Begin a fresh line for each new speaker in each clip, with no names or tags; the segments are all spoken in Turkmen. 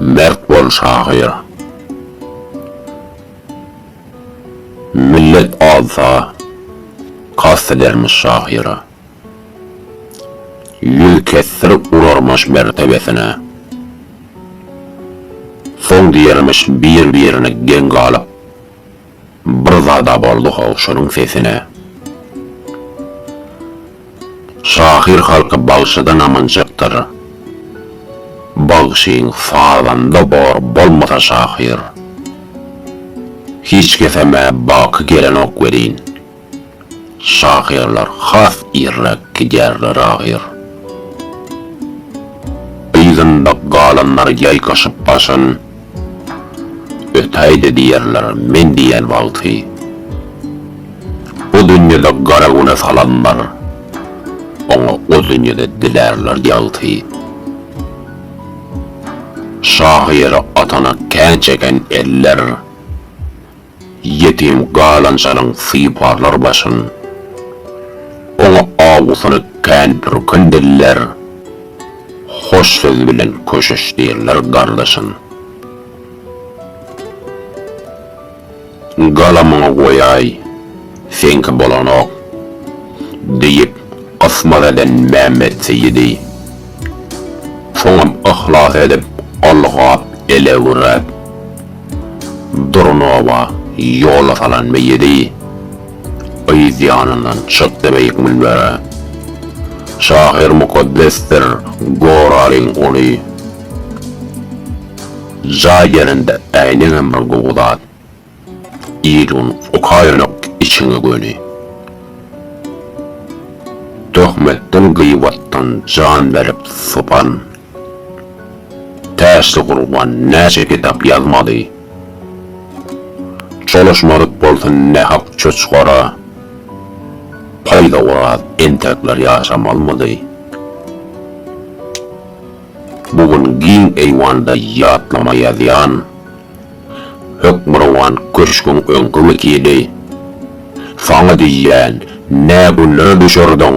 Mert bol şahyr. Millet azsa kast edermiş şahyra. Ýüz kesdirip urarmyş mertebesine. Soň diýermiş bir-birine geň galyp. Bir zada boldy-how şonuň sesine. Şahyr halky bagşydan amanjakdyr. Bagşyň sazanda bor bolmasa şahyr. Hiç kesem-ä baky gelenok welin, Şahyrlar has irräk gidýärler ahyr. Yzynda galanlar ýaýkaşyp başyn, Ötäý-de diýerler men diýen wagty. Bu dünýede gara güne salanlar, Oňa o dünýede dilärler ýagty. Şahyra atana kän çeken eller. Ýetim galançaryň syparlar başyn. Oňa awusyny kän pürkün diller. Hoş söz bilen köşeşdirler gardaşyn. Galamyňy goýaý, seňki bolanok, diýip, gysmat eden Mämmet Seýidi. Soňam yhlas edip, ylgap, elewrap. Durnowa ýola salan meýedi yz ýanyndan çykdy beýik münbere. Şahyr mukaddesdir goralyň ony jaý gelende äýnegem bir gowy zat. Il un okaýanak içiňe göni. Töhmetden gyýwatdan jan berip sopan Täşli gurban näçe kitap ýazmaly. Çolaşmadyk bolsun nähak çoçgara. Paýda oraz entekler ýaşamalmydy. Bu gün giň eýwanda ýatlama ýazýan. Hökmürowan köşgüň öňki wekili. Saňa diýýän, nä günlere düşerdiň.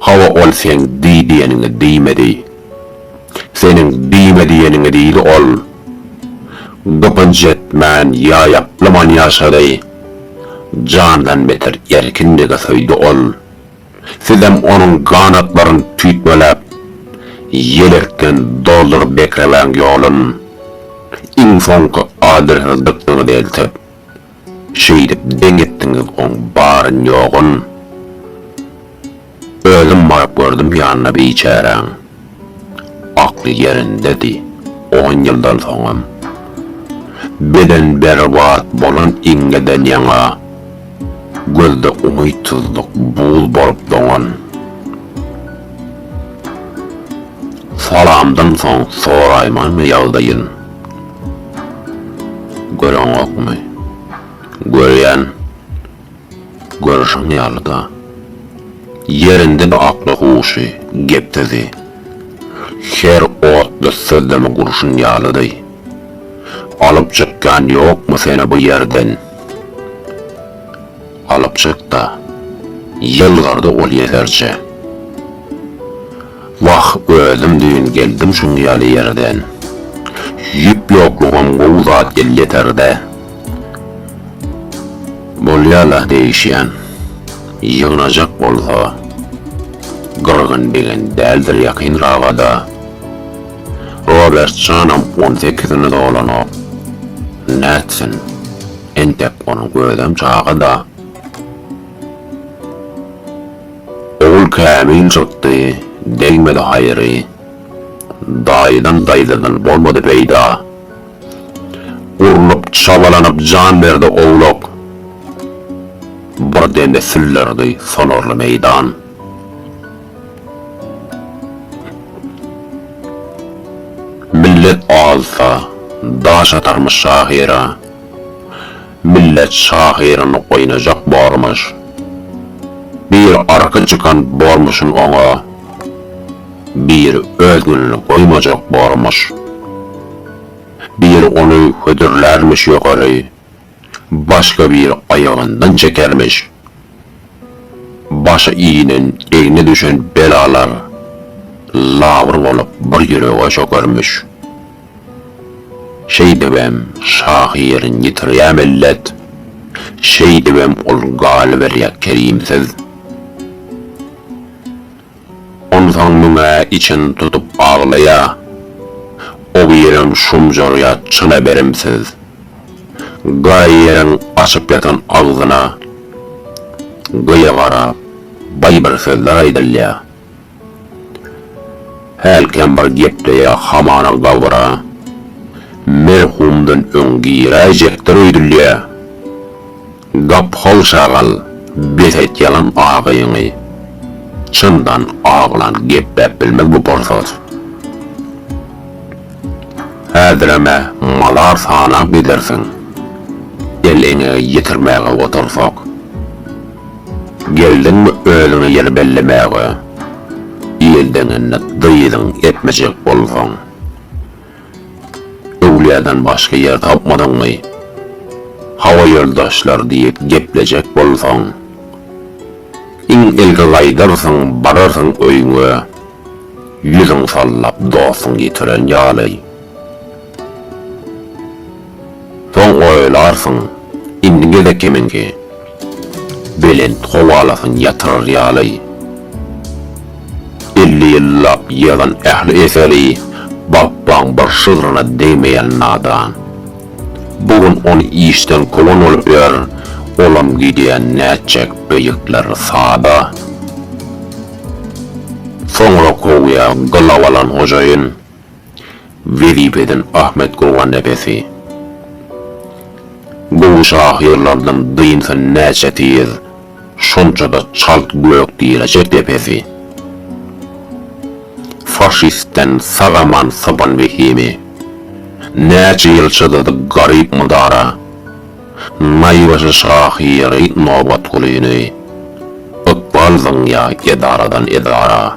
Hawa ol seň diý diýeniňi diýmedi. Seniň diýme diýeniňi diýdi ol. Gypynç etmän ýaýaplaman ýaşady. Jandan beter erkinligi söýdi ol. Sizem onuň ganatlaryn tüýtmeläp, ýelekden dolduryp bekremäň ýolun. Iň soňky adresini dykdyňyz eltip, Şeýdip deň etdiňiz oň baryn-ýogyn. Özüm baryp gördüm ýanyna biçäräň. Akly ýerindedi, on ýyldan soňam. Beden berbat bolan iňňeden ýaňa, gözde umytsyzlyk buz bolup doňan. Salamdan soň soraýmanmy ýagdaýyn? Göreňokmy? Görýän. Görüşiň ýaly-da. Ýerinde bu akly huşy, gep-sözi. Her otly sözlemi gurşun ýalydy. Alyp çykýan ýokmy seni bu ýerden? Alyp çyk-da. Ýylgyrdy ol ýeserje. Wah özüm düýn geldim şuň ýaly ýerden. Ýüp ýoklugam gowy zat elýeterde. Bolýala degişýän. Ýygnajak bolsa Gyrgyn degen däldir ýakyn rabada. Robertjanam on sekizini dolanok. Nätsin. Entek onuň özem çaga-da. Ogul kämil çykdy, degmedi haýry. Daýydan daýzadan bolmady peýda. Urlup, çabalanyp jan berdi owlak. Bir demde syllardy sonarly meýdan. Millet azsa, daş atarmy şahyra. Millet şahyryny oýnajak bormuş. Bir arka çykan bormuşyn oňa, bir öz gününi goýmajak bormuş. Bir ony hödürlärmiş ýokary, başga bir aýagyndan çekermiş. Başy inen egne düşen belalar labyr bolup bir ýürege çökermiş. Şeýdibem, şahyryň ýitirýär mellet, Şeýdibem ol galyberýär kerimsiz. Onsoň müň-ä içini tutup aglaýar, O birem şumjarýar çyna berimsiz. Gaýyryň açyp ýatan agzyna, Gyýa garap, baý bir sözler aýdylýar. Hälkän bir gepleýä hamana gabra merhumdan öň giräýjekdir öýdülýä. Gapyhal şagal bes et ýalan agyňy. Çyndan aglan gepläp bilmez bu porsat. Häzirem-ä malar sanap gidersiň el eňegi ýetirmäge otursak. Geldiňmi özüňe ýer bellemäge. Il deňinde dyzyň epmejek bolsaň. Öwlüýäden başga ýer tapmadyňmy. Hawa ýoldaşlar diýip geplejek bolsaň. Iň ilki gaýdarsyň bararsyň öýüňe. Ýüzüň sallap dostuň ýitiren ýaly. Soň oýalarsyň, indi gezek kimiňki? Belent howalasyn ýatyrar ýaly, elli ýyllap ýygnan ähli eseri Bapbaň bir şygryna degmeýän nadan, bu gün ony işden kowan bolup ýör, olam gidýän nätjek beýikler sada. Soňra kowýa gylaw alan hojaýyn. wezipeden Ahmet Gurgannepesi gowy şahyrlardan dynsa näçe tiz, şonça-da çalt gök diýlejek depesi. Faşistden sag-aman sypan wehimi, näçe ýyl çydady garyp mydara, naýbaşy şahyry Nobatgulyny ykbal zyňýa edaradan edara.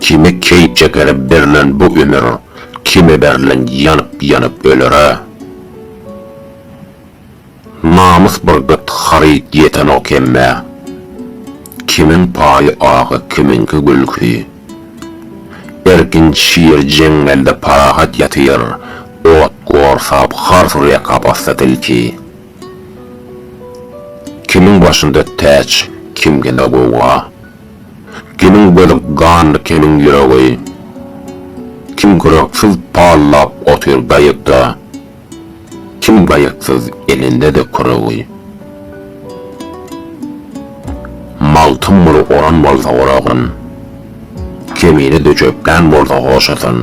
Kime keýp çekere berlen bu ömür, Kime berlen ýanyp ýanyp ölere. Namys bir gyt haryt ýetenok hemmä, Kimiň paýy agy kimiňki gülki. Erkin şir jeňňelde parahat ýatyr, Ot gorsap har surýa kapasda tilki. Kimiň başynda täç kimginde gowga. Kimiň gözi ganly kimiň ýüregi. Kim gyraksuz pallap otyr gaýykda, kim gaýyksyz elinde-de küregi. Magtym guly oran bolsa oragan, kemine döşekgän bolsa hoşatan.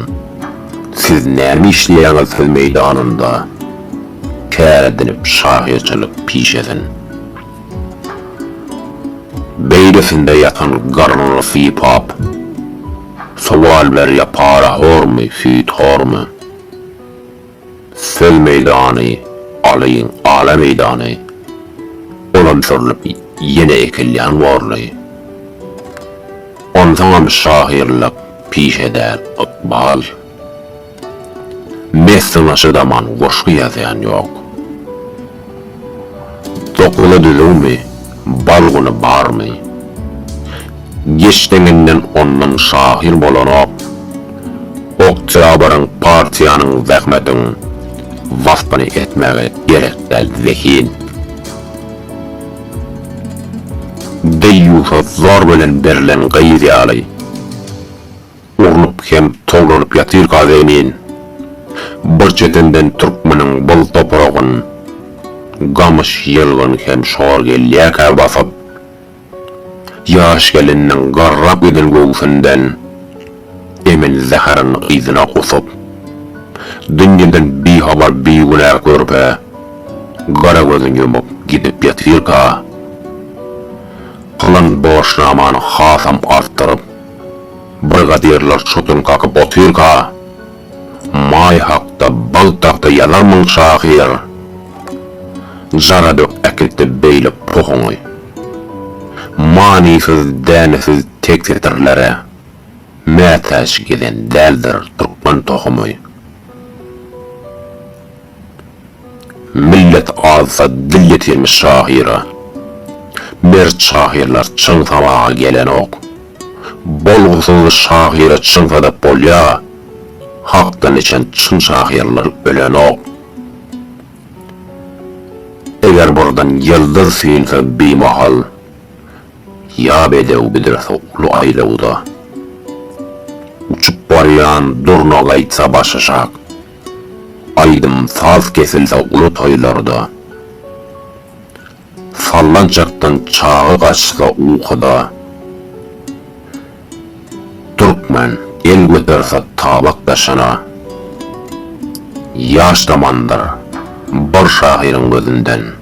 Siz näme işleýäňiz söz meýdanynda, kär edinip şahyrçylyk pişesin. Beýlesinde ýatan garnyny sypap, Sowal berýär para hormy, süýt hormy? Söz meýdany alyň, ala meýdany, Olam sürlüp ýene ekilýän borly. Onsoňam şahyrlyk pişe däl, ykbal. Mesden aşa zaman goşgy ýazýan ýok. Dokmada düzüwmi, bal güni barmy? Geç deňinden ondan şahyr bolanok. Oktýabryň, partiýanyň, zähmetiň waspyny etmäge gerek däl zehin. Deýýusa zor bilen berlen gyz ýaly. Urnup hem towlaryp ýatyr gaz egnin. Bir çetenden türkmeniň bol topragyn gamyş ýylgyn hem şor gelýärkä basyp, ýaş geliniň garrap giden göwsünden emen zäherin yzyna gusup, dünýeden bihabar bigünä körpe gara gözün ýumup gidip ýatyrka, pylan borçnamany hasam artdyryp, Brigadirler çodan kakyp otyrka, Maý hakda bal tagta ýazarmyň şahyr? Jara dök äkit-de beýle pohuňy. Manysyz, dänesiz tek setirlere mätäç gezen däldir türkmen tohumy. Millet azsa dil ýetirmiş şahyra. Mert şahyrlar çyn sabaga gelenok. Bolgusyz şahyra çyn sadap bolýa. Hakdan içen çyn şahyrlar ölenok. Eger burdan ýyldyz süýnse bimahal. Ýa bedew büdrese uly aýlawda. Uçup barýan durna gaýtsa başaşak. Aýdym saz kesilse uly toýlarda, Sallançakdan çaga gaçsa ukuda, Türkmen el göterse tabak daşyna, Ýaş zamandyr bir şahyryň gözünden.